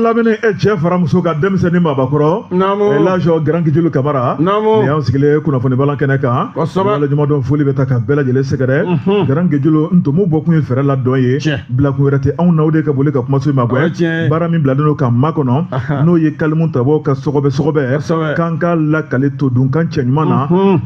lamɛnni e cɛ fara muso kan denmisɛnnin mabakɔrɔ laji garankejulu kamara nin y'an sigilen ye kunnafoni balan kɛnɛ kan waleɲumandɔn foli bɛ ta ka bɛɛ lajɛlen sɛgɛrɛ garankejulu ntomo bɔkun ye fɛrɛ la dɔn ye bilakun wɛrɛ tɛ anw n'aw de ka boli ka kumaso in magɛn baara min bilalen don k'an makɔnɔ n'o ye kalimu tabaaw ka sɔgɔbɛ sɔgɔbɛ k'an k'a lakali todunkan cɛɲuman na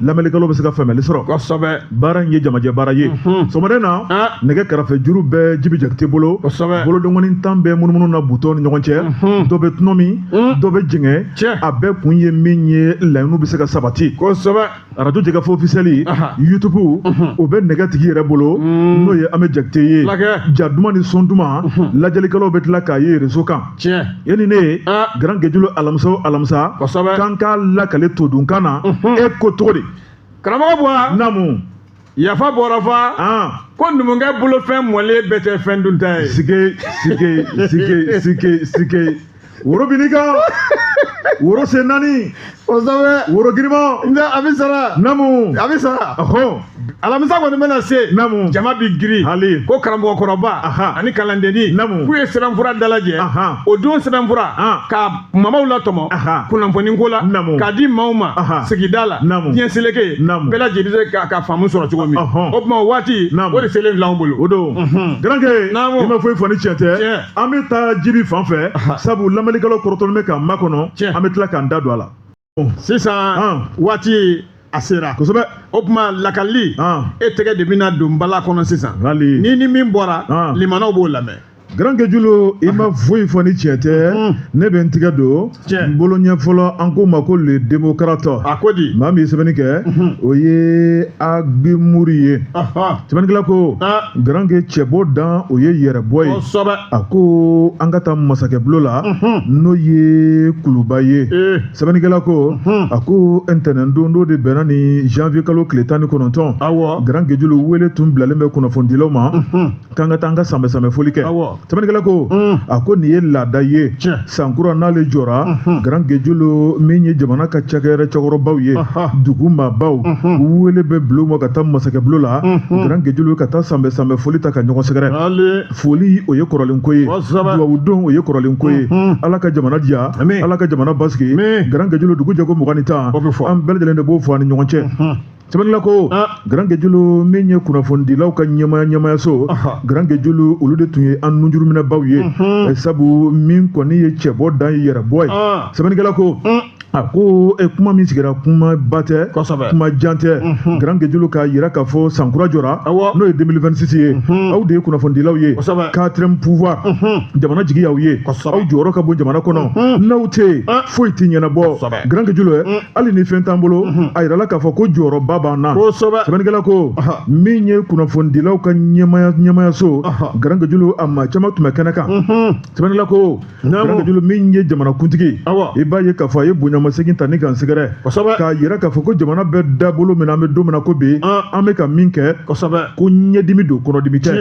lamɛnlikɛlaw bɛ se ka faamuyali sɔrɔ baara in ye jamajɛ baara ye mhm. sɔgɔmada na ah. nɛgɛ karafejuru bɛ jibi jakite bolo bolodengɔni tan bɛ munumunu na butɔnw ni ɲɔgɔn cɛ mhm. dɔ bɛ tɔnɔmi mhm. dɔ bɛ jɛngɛ a bɛɛ kun ye min ye laɲiniw bɛ se ka sabati arajo jɛkafɔ ofisɛli youtube o bɛ nɛgɛ tigi yɛrɛ bolo n'o ye an bɛ jakite ye ja duman ni son duman lajɛlikɛlaw bɛ tila k'a ye rezo kan yanni ne ye ah. garankejulu alamisa o alamisa k'an k'a lakali todunkan na e ko cogo di karamɔgɔba namu yafa bɔra fa ko numukɛ bolofɛn mɔlen bɛɛ tɛ fɛn dunta ye sike sike sike sike sike woro bini kan woro sen naani kosɛbɛ woro girinma nka a bɛ sara namu a bɛ sara ɔhɔn alamisa kɔni bɛna se namu jama bi girin hali ko karamɔgɔ kɔrɔba ani kalandenni namu k'u ye sɛbɛnfura dalajɛ o don sɛbɛnfura ka kumabaw latɔmɔ kunnafoni ko la k'a di maaw ma sigida la diɲɛ seleke bɛɛ lajɛlen bɛ se ka faamu sɔrɔ cogo min o tuma o waati o de selen filɛ anw bolo o don garanke i ma foyi fɔ ni tiɲɛ tɛ an bɛ taa jibi fan fɛ sabu lamɛnnikɛlaw kɔrɔtɔlen bɛ k'an makɔnɔ an bɛ tila k'an da don a la sisan waati a sera kosɛbɛ o tuma lakali e tɛgɛ de bɛna don bala kɔnɔ sisan ni ni min bɔra limanaw b'o lamɛn garankejulu i ma foyi fɔ ni tiɲɛ tɛ ne bɛ n tɛgɛ don n bolo ɲɛ fɔlɔ an k'o ma ko le démocrate a ko di maa min ye sɛbɛnni kɛ o ye agimuri ye sɛbɛnnikɛla ko garanke cɛbɔ dan o ye yɛrɛbɔ ye a ko an ka taa masakɛbulon la n'o ye kuluba ye sɛbɛnnikɛla ko a ko ntɛnɛn don n'o de bɛnna ni janvier kalo tile tan ni kɔnɔntɔn garankejulu wele tun bilalen bɛ kunnafonidilaw ma k'an ka taa an ka sanbɛsanbɛ foli kɛ sɛbɛnnikɛla ko a ko nin ye laada ye san kura n'ale jɔra garankejulu min ye jamana ka cakɛyɔrɔ cɛkɔrɔbaw ye dugu maabaw wele bɛ bila u ma ka taa masakɛbulon la garankejulu ka taa sanbɛsanbɛ foli ta ka ɲɔgɔn sɛgɛrɛ foli o ye kɔrɔlen ko ye duwawu don o ye kɔrɔlen ko ye ala ka jamana diya ala ka jamana basigi garankejulu dugujɛ ko mugan ni tan an bɛɛ lajɛlen de b'o fɔ an ni ɲɔgɔn cɛ sɛbɛnla ko garankejulu min ye kunnafonidilaw ka ɲɛmaya ɲɛmayaso garankejulu olu de tun ye an nunjuruminɛbaw ye eh, sabu min kɔni ye cɛbɔ dan ye yɛrɛbɔ ye sɛbɛnnikɛla ko a ko eh, kuma min sigira kuma ba tɛ kuma jan tɛ garankejulu k'a yira k'a fɔ sankura jɔra n'o ye 2026 ye aw de ye kunnafonidilaw ye quatrième pouvoir jamana jigi y'aw ye aw jɔyɔrɔ ka bon jamana kɔnɔ n'aw tɛ yen foyi tɛ ɲɛnabɔ garankejulu hali ni fɛn t'an bolo mhm. a yirala k'a fɔ ko jɔyɔrɔba b'an na kosɛbɛ sɛbɛnnikɛla ko min ye kunnafonidilaw ka ɲɛmaya ɲɛmayaso garankejulu a maa caman tun bɛ kɛnɛ kan mhm. sɛbɛnnikɛla ko garankejulu min ye jamanakuntigi i b'a ye k'a fɔ a ye bonyamasegin ta ni kan sɛgɛrɛ k'a yira k'a fɔ ko jamana bɛ dabolo min na an bɛ don min na ko bi an bɛ ka min kɛ ko ɲɛdimi don kɔnɔdimi tɛ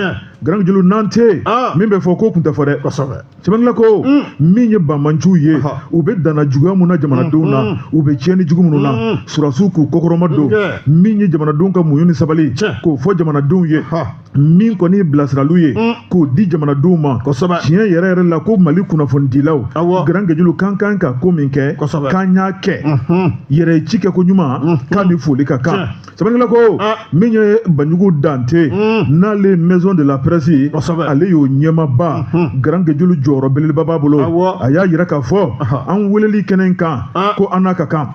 garankejulu n'an tɛ yen min bɛ fɔ k'o kun tɛ fɔ dɛ sɛbɛnla ko mm. min ye banbaanciw ye u bɛ danna juguya min na jamanadenw na mm-hmm. u bɛ tiɲɛni jugu minnu na mm-hmm. sɔrɔdasiw k'u kɔkɔrɔma don min ye jamanadenw ka muɲu ni sabali k'o fɔ jamanadenw ye min kɔni ye bilasiraliw ye mm. k'o di jamanadenw ma tiɲɛ yɛrɛ yɛrɛ la ko mali kunnafonidilaw garan gejulu k'an ka kan ka ko min kɛ k'an y'a kɛ mm-hmm. yɛrɛ ci kɛ ko ɲuman k'an ni foli ka kan sɛbɛnnikɛla ko min ye banjugu dante n'ale ye maison de la presse ale y'o ɲɛmaaba grand gejulu jɔyɔrɔ belebeleba b'a bolo a y'a yira k'a fɔ an weleli kɛnɛ in kan ko an n'a ka kan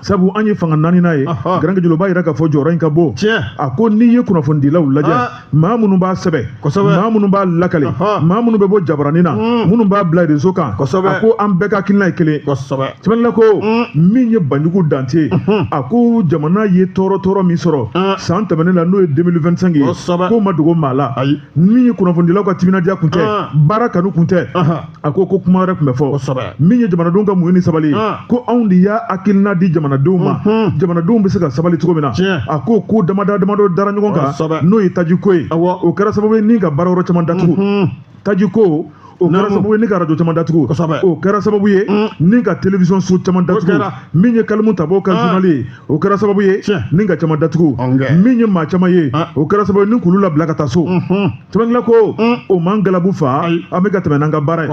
sabu an ye fanga naaninan ye grand gejulu b'a yira k'a fɔ jɔyɔrɔ in ka bon a ko n'i ye kunnafonidilaw lajɛ maa minnu b'a sɛbɛn kosɛbɛ maa minnu b'a lakali maa minnu bɛ bɔ jabaranin na hmm. minnu b'a bila réseau kan kosɛbɛ a ko an bɛɛ ka hakilina ye kelen kosɛbɛ sɛbɛnla ko hmm. min ye banjugu dante hmm. a ko jamana ye tɔɔrɔ tɔɔrɔ min sɔrɔ san tɛmɛnen la n'o ye 2025 ye k'o ma dogo maa la min ye kunnafonidilaw ka timinandiya kun tɛ baara kanu kun tɛ a ko ko kuma wɛrɛ kun bɛ fɔ kosɛbɛ min ye jamanadenw ka muɲu ni sabali ah. ko anw de y'a hakilina di jamanadenw ma mhm. jamanadenw bɛ se ka sabali cogo min na a ko ko damada damadɔ dara ɲɔgɔn kan n'o ye tajiko ye o kɛra sababu ye ni ka baara yɔrɔ caman datugu mhm. tajiko o kɛra sababu ye ni ka arajo caman datugu o kɛra sababu ye ni ka télévision so caman datugu min ye kalimu tabaw ka ah. journal ye o kɛra sababu ye ni ka caman datugu min ye maa caman ye ah. o kɛra sababu ye ni k'olu labila ka taa so sɛbɛnnikɛla ko mm. o m'an galabu faa an bɛ ka tɛmɛ n'an ka baara ye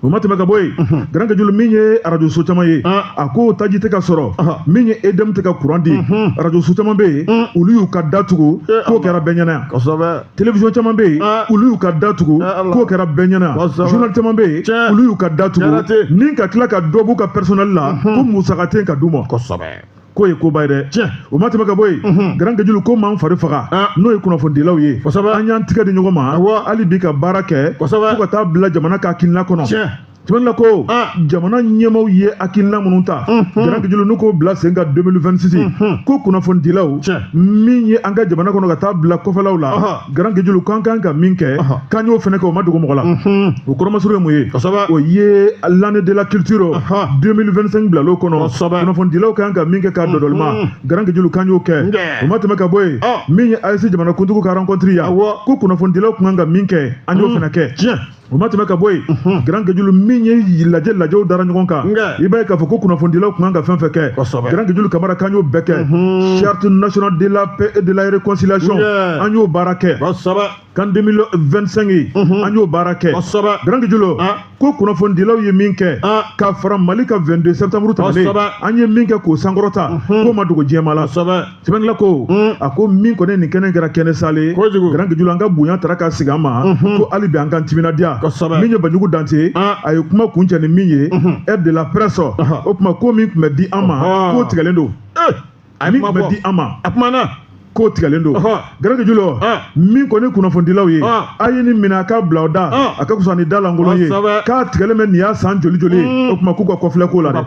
o ma tɛmɛ ka bɔ yen garan gejulu min ye arajo so caman ye ah. a ko taji tɛ ka sɔrɔ ah. min ye EDM tɛ ka kuran di arajo so caman bɛ yen olu y'u ka da tugu k'o kɛra bɛɛ ɲɛna yan télévision caman bɛ yen ah. olu y'u ka da tugu ah, k'o kɛra bɛɛ ɲɛna journal caman bɛ yen olu y'u ka da tugu ni ka tila ka dɔ b'u ka personnel la mhm. ko musaka tɛ ka d'u ma kosɛbɛ k'o ye koba ye dɛ tiɲɛ o ma tɛmɛ ka bɔ yen mhm. garan gejulu k'o m'an fari faga ah. n'o ye kunnafonidilaw ye an y'an tigɛ di ɲɔgɔn ma hali bi ka baara kɛ fo ka taa bila jamana ka hakilina kɔnɔ tɛmɛnna ko ah. jamana ɲɛmaaw ye hakilina minnu ta mhm. garanke julu n'u k'o bila sen kan 2026 mhm. ko kunnafonidilaw min ye an ka jamana kɔnɔ ka taa bila kɔfɛlaw la garanke julu k'an kan ka min kɛ k'an y'o fana kɛ o ma dogo mɔgɔ la mhm. o kɔrɔmasuru ye mun ye o ye l'année de la culture 2025 bilal'o kɔnɔ kunnafonidilaw kan ka min kɛ k'a dɔdɔlima garanke julu k'an y'o kɛ o ma tɛmɛ ka bɔ yen min ye AES jamanakuntigiw ka rencontre yan ko kunnafonidilaw kun kan ka min kɛ an y'o fana kɛ o ma tɛmɛ ka bɔ yen mhm. garanke julu min ye lajɛ lajɛw dara ɲɔgɔn kan i b'a ye k'a fɔ ko kunnafonidilaw kun kan ka fɛn fɛn kɛ garanke julu kamara k'an y'o bɛɛ kɛ mhm. charte nationale de la paix et de la réconciliation an y'o baara kɛ CAN 2025 ye mhm. an y'o baara kɛ garanke julu ah. ko kunnafonidilaw ye min kɛ ah. ka fara mali ka 22 septembre tɛmɛnen an ye min kɛ k'o sankɔrɔta k'o ma dogo diɲɛ maa la sɛbɛnla ko hmm. a ko min kɔni nin kɛnɛ kɛra kɛnɛ sale ye garanke julu an ka bonya tara ka sigi an ma mhm. ko hali bi an ka timinadiya min ye banjugu dante ah. a ye kuma kuncɛ ni min ye mhm. aide de la presse o kuma ko min tun bɛ di an ma k'o tigɛlen don eh. a min tun bɛ di an ma a kumana k'o tigɛlen don garanke julu min kɔni kunnafonidilaw ye a ye nin minɛ a ka bila o da a ka fisa ni da lankolon ye k'a tigɛlen bɛ nin y'a san joli joli ye mm. o tuma k'u ka kɔfilɛ k'o la dɛ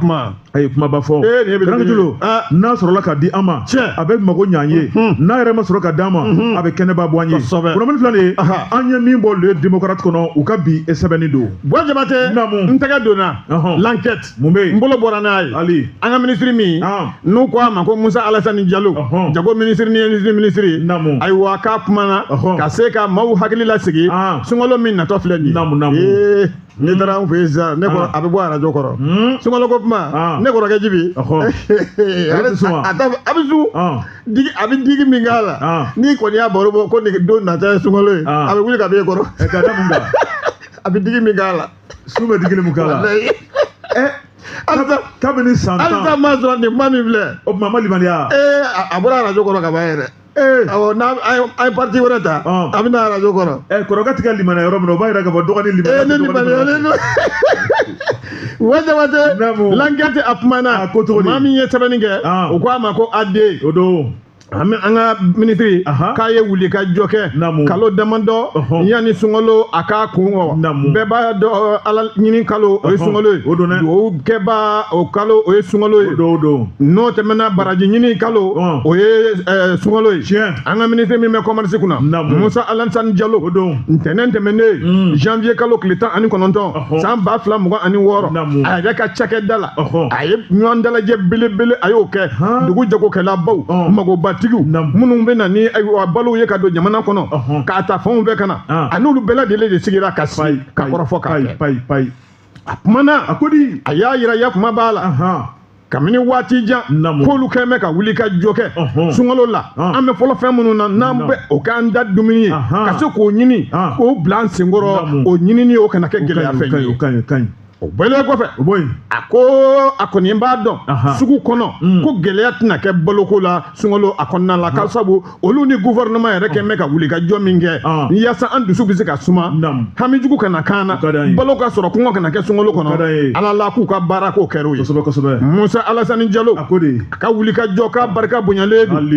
a ye kumaba fɔ garanke julu n'a sɔrɔla ka di an ma a bɛ mago ɲɛ an ye n'a yɛrɛ ma sɔrɔ ka d'an ma a bɛ kɛnɛba bɔ an ye kunnafoni filɛ nin ye an ye min bɔ le démocrate kɔnɔ u ka bi sɛbɛnni don buwa jabatɛ n tɛgɛ donna l'enquête mun bɛ yen n bolo bɔra n'a ye an ka minisiri min n'u ko a ma ko musa alasani jalo jago minisiri ni minisiri minisiri ayiwa k'a kumana ka se ka maaw hakili lasigi sunkalo min natɔ filɛ nin ye n'i taara an fɛ yen sisan ne kɔrɔ a bɛ bɔ arajo kɔrɔ sunkalo ko kuma ne kɔrɔkɛ jibi a bɛ sun a bɛ sun digi a bɛ digi min k'a la n'i kɔni y'a baro bɔ ko nin don nata ye sunkalo ye a bɛ wuli ka bɔ e kɔrɔ a bɛ digi min k'a la sun bɛ digi min k'a la kabini san tan halisa ma sɔrɔ nin kuma min filɛ o tuma ma limaniya ee a bɔra arajo kɔrɔ ka ban yɛrɛ awɔ n'an ye parti wɛrɛ ta a bɛ na arajo kɔrɔ. ɛ kɔrɔkɛ tɛ ka limaniya yɔrɔ min na o b'a yira k'a fɔ dɔgɔnin limaniya. ee ne limaniyalen don wɛsɛ wɛsɛ l'enquête a kumana maa min ye sɛbɛnni kɛ u ko a ma ko AD. o don. an an ka minisiri k'a ye wuli ka jɔ kɛ kalo damadɔ yanni sunkalo a k'a kun bɛɛ b'a dɔn ala ɲini kalo o ye sunkalo ye dugawu kɛbaaw kalo o ye sunkalo ye don don n'o tɛmɛna baraji ɲini kalo Ɔn. o ye eh, sunkalo ye Tiɲɛ. an ka minisiri min bɛ kɔmarisi kunna Naamu. musa alasani jalo o don ntɛnɛn tɛmɛnen Mm. janvier kalo tile tan ani kɔnɔntɔn Ɔhɔ. san ba fila mugan ani wɔɔrɔ Naamu. a yɛrɛ ka cakɛda la Ɔhɔ. a ye ɲɔgɔn dalajɛ belebele a y'o kɛ Han. dugu jagokɛlabaw Ɔn. magobatigiw Naamu. minnu bɛ na ni ayiwa balow ye ka don jamana kɔnɔ Ɔhɔ. k'a ta fanw bɛɛ ka na An. a n'olu bɛɛ lajɛlen de sigira ka sigi ka kɔrɔfɔ k'a payi kɛ payi payi a kumana a ko di a y'a yira yafama b'a la kabini waati jan k'olu kɛlen bɛ ka wuli ka jɔ kɛ sunkalo la an bɛ fɔlɔ fɛn minnu na n'an bɛ o k'an da dumuni ye ka se k'o ɲini k'o bila an senkɔrɔ o ɲinini o kana kɛ gɛlɛya fɛn ye o bɔlen kɔfɛ a ko a kɔni b'a dɔn sugu kɔnɔ ko gɛlɛya tɛna kɛ baloko la sunkalo a kɔnɔna la k'a sabu olu ni gouvernement yɛrɛ kɛlen bɛ ka wuli ka jɔ min kɛ ah. yaasa an dusu bɛ se ka suma hamijugu kana k'an na balo ka sɔrɔ kɔngɔ kana kɛ sunkalo kɔnɔ ala la k'u ka baara k'o kɛr'o ye musa alasani jalo a ka wuli ka jɔ k'a barika bonyalen don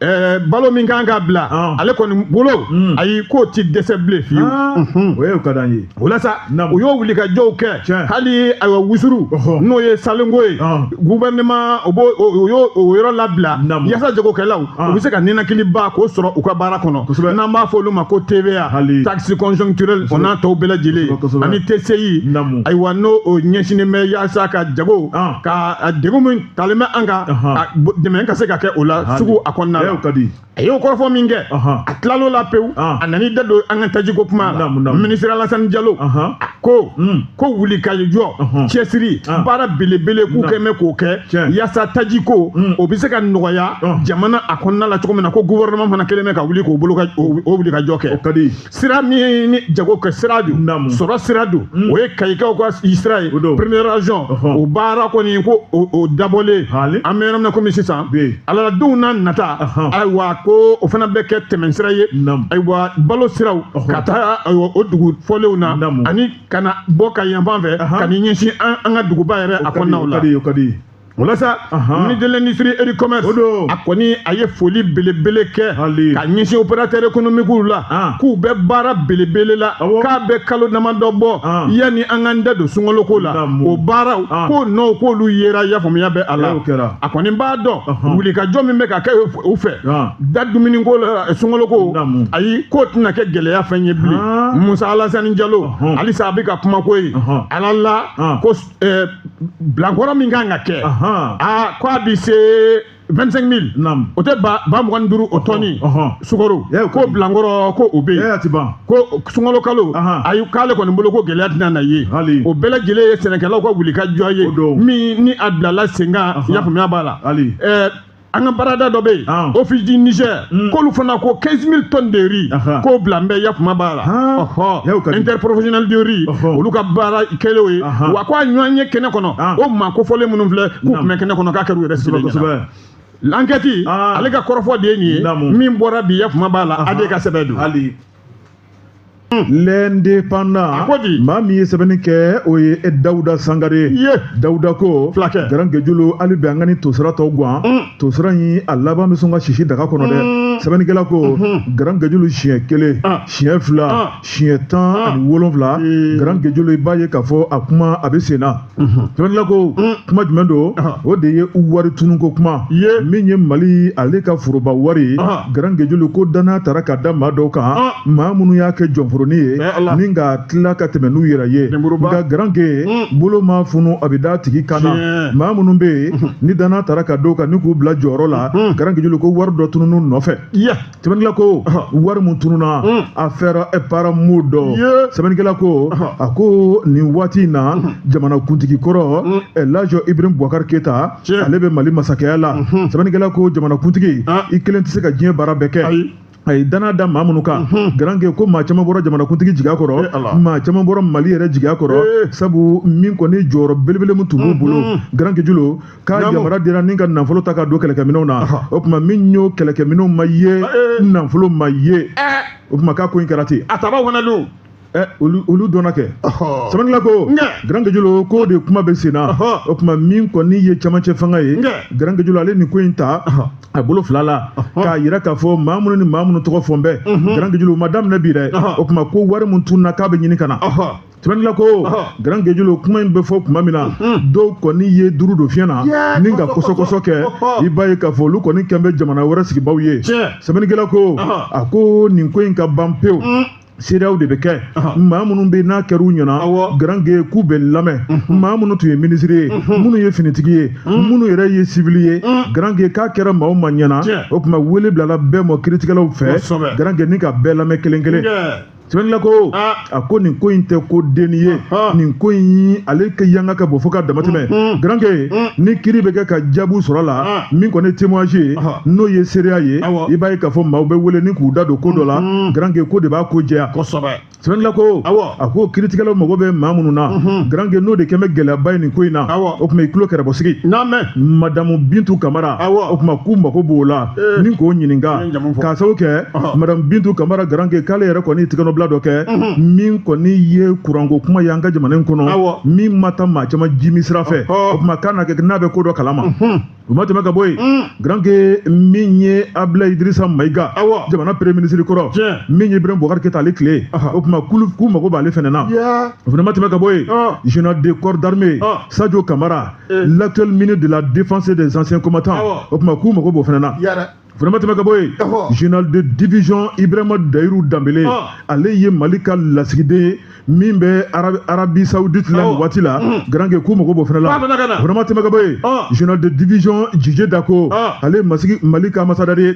eh, balo min kan ka bila ah. ale kɔni bolo hmm. ayi k'o ti dɛsɛ bilen fiyewu ah. mhm. o ye o ka d'an ye O la sa u y'o wuli ka jɔw kɛ hali ayiwa wusuru n'o ye salenko ye gouvernement o b'o o y'o o yɔrɔ labila yasa jagokɛlaw u bɛ se ka ninakiliba k'o sɔrɔ u ka baara kɔnɔ kosɛbɛ n'an b'a fɔ olu ma ko TVA hali taxe conjoncturelle o n'a tɔw bɛɛ lajɛlen ani TCI ayiwa n'o o ɲɛsinnen bɛ yasa ka jago ka degun min dalen bɛ an kan dɛmɛ ka se ka kɛ o la sugu a kɔnɔna la a y'o kɔrɔfɔ min kɛ a tilal'o la pewu a nan'i da don an ka tajiko kuma la ministre alasani jalo a ko hmm. ko wulikajɔ cɛsiri baara belebele k'u kɛlen bɛ k'o kɛ yaasa tajiko hmm. o bɛ se ka nɔgɔya jamana a kɔnɔna la cogo min na ko gouvernement fana kɛlen bɛ ka wuli k'o wulikajɔ kɛ sira min ni jago kɛ sira don Naamu. sɔrɔ sira don Mm. o ye kayikaw kayi sira ye O don. première région Ɔhɔn. o baara kɔni ko o o dabɔlen Hali. an bɛ yɔrɔ min na komi sisan Bi. ala la donw na nata Ɔhɔn. ayiwa ko o fana bɛ kɛ tɛmɛnsira ye Naamu. ayiwa balo siraw Ɔhɔn. ka taa ayiwa o dugu fɔlenw na Naamu. ani ka na bɔ kayi yanfan fɛ Ahan. ka n'i ɲɛsin an an ka duguba yɛrɛ a kɔnɔnaw la o ka di o ka di walasa ministre de l'industrie et du commerce o don a kɔni a ye foli belebele kɛ ka ɲɛsin opérateur économique la ah. k'u bɛ baara belebele la k'a bɛ kalo damadɔ bɔ ah. yanni an k'an da don sunkaloko la o baaraw ah. k'o nɔw k'olu yera yafaamuya bɛ a la a kɔni b'a dɔn wulikajɔ min bɛ ka kɛ u fɛ da dumuniko la eh, sunkaloko ayi k'o tɛna kɛ gɛlɛya fɛn ye bilen musa alasani jalo halisa a bɛ ka kuma ko ye ala la ko eh, bilankɔrɔ min kan ka kɛ aa ko a bɛ se 25 mille o tɛ ba ba mugan ni duuru o tɔni sukaro ko bilankɔrɔ ko o bɛ yen ko sunkalo kalo ayi k'ale kɔni bolo ko gɛlɛya tɛna na ye o bɛɛ lajɛlen ye sɛnɛkɛlaw ka wuli ka jɔ ye min ni a bilala sen kan yafaamuya b'a la an ka baarada dɔ bɛ yen ah. office du niger hmm. k'olu fana ko 15 000 tonnes de riz k'o bilalen bɛ yafama b'a la ɔhɔ interprofessionnel de riz olu ka baara kɛlen ye wa ko a ɲɔgɔnye kɛnɛ kɔnɔ ah. o maa kofɔlen minnu filɛ k'u tun bɛ kɛnɛ kɔnɔ k'a kɛra u yɛrɛ sigilen ɲɛna l'enquête ah. ale ka kɔrɔfɔ de ye nin ye min bɔra bi yafama b'a la a de ka sɛbɛn don l'indépendant maa min ye sɛbɛnni kɛ o ye dawuda sangare dawuda ko garankejulu hali bi an ka nin tosira tɔ gan mm. tosira in a laban bɛ sɔn ka sisi daga kɔnɔ dɛ mm. sɛbɛnnikɛla ko mm-hmm. garankejulu siɲɛ kelen ah. siɲɛ fila ah. siɲɛ tan ah. ani wolonfila garankejulu i b'a ye k'a fɔ a kuma a bɛ sen na sɛbɛnnikɛla ko kuma jumɛn don o de ye wari tununko kuma min ye mali ale ka foroba wari garankejulu ko dannaya taara ka da maa dɔw kan maa minnu y'a kɛ jɔnforonin ye ni ka tila ka tɛmɛ n'u yɛrɛ ye nka garanke bolo mana funu a bɛ d'a tigi kan na maa minnu bɛ yen ni dannaya taara ka d'u kan ni k'u bila jɔyɔrɔ la garankejulu ko wari dɔ tunun'u nɔfɛ sɛbɛnnikɛla ko wari mun tununa hmm. affaire paramount don sɛbɛnnikɛla ko a ko nin waati in na hmm. jamana kuntigi kɔrɔ hmm. laji ibrahim bubakar keyita ale bɛ mali masakɛya la sɛbɛnnikɛla ko jamana kuntigi ah. i kelen tɛ se ka diɲɛ baara bɛɛ kɛ a ye dannaya da maa minnu kan mhm. garanke ko maa caman bɔra jamanakuntigi jigiya kɔrɔ eh, maa caman bɔra mali yɛrɛ jigiya kɔrɔ eh. sabu min kɔni jɔyɔrɔ belebele min tun b'u mhm. bolo garankejulu k'a yamaruya dira ni ka nafolo ta ka don kɛlɛkɛminɛw na o tuma min y'o kɛlɛkɛminɛw ma ye eh, eh. nafolo ma ye eh. o tuma k'a ko in kɛra ten a tabaw fana don olu dɔnna kɛ sɛbɛnnikɛla ko garankejulu k'o de kuma bɛ sen na o tuma min kɔni ye camancɛ fanga ye garankejulu ale nin ko in ta a bolo fila la k'a yira k'a fɔ maa minnu ni maa minnu tɔgɔ fɔn bɛ garankejulu ma daminɛ bi dɛ o tuma ko wari min tununa k'a bɛ ɲini ka na sɛbɛnnikɛla ko garankejulu kuma in bɛ fɔ tuma min na dɔw kɔni ye duuru don fiɲɛ na ni ka kɔsɔkɔsɔ kɛ i b'a ye k'a fɔ olu kɔni kɛn bɛ jamana wɛrɛ sigibaaw ye sɛbɛnnikɛla ko a ko nin ko in ka ban pewu seereyaw de bɛ kɛ maa minnu bɛ n'a kɛra u ɲɛna garanke k'u bɛ lamɛn maa minnu tun ye minisiri ye minnu ye finitigi ye minnu yɛrɛ ye sivili ye garanke k'a kɛra maa o maa ɲɛna o tuma wele bilala bɛɛ ma kiritigɛlaw fɛ garanke ni ka bɛɛ lamɛn kelen kelen sɛbɛnnikɛla ko a ko nin ko in tɛ ko denni ye nin ko in ale ka yanga ka bɔ fo ka damatɛmɛ garanke ni kiri bɛ kɛ ka jaabu sɔrɔ a la min kɔni ye témoignage ye n'o ye seereya ye i b'a ye k'a fɔ maaw bɛ wele ni k'u da don ko dɔ la garanke k'o de b'a ko jɛya sɛbɛnnikɛla ko a ko kiritigɛlaw mago bɛ maa minnu na garanke n'o de kɛn bɛ gɛlɛyaba ye nin ko in na o tuma i tulo kɛrɛbɔsigi madamu bintu kamara o tuma k'u mago b'o la Eh. ni k'o ɲininka k'a sababu kɛ madamu bintu kamara garanke k'ale yɛrɛ kɔni tigɛnɔbila dɔ kɛ min kɔni ye kuranko kuma ye an ka jamana in kɔnɔ min ma taa maa caman jiminsira fɛ o tuma k'a na kɛ n'a bɛ ko dɔ kalama o ma tɛmɛ ka bɔ yen mm. garanke min ye abulayi idirisa mayiga jamana premier ministre kɔrɔ min ye ibrahim bubakar keyita ale tile o tuma k'u mago b'ale fana na o fana ma tɛmɛ ka bɔ yen général de corps d'armée sajo kamara eh. l'actuel ministre de la défense et des anciens combattants o tuma k'u mago b'o fana na vraiment tɛmɛ ka bɔ yen général de division ibrahima dayiru danbele ah. ale ye mali ka lasigiden ye min bɛ arabie saoudite la nin waati la mm. garanke k'u mago b'o fana la vraiment tɛmɛ ka bɔ yen ah. général de division didier dako ah. ale ye mali ka amasadari ye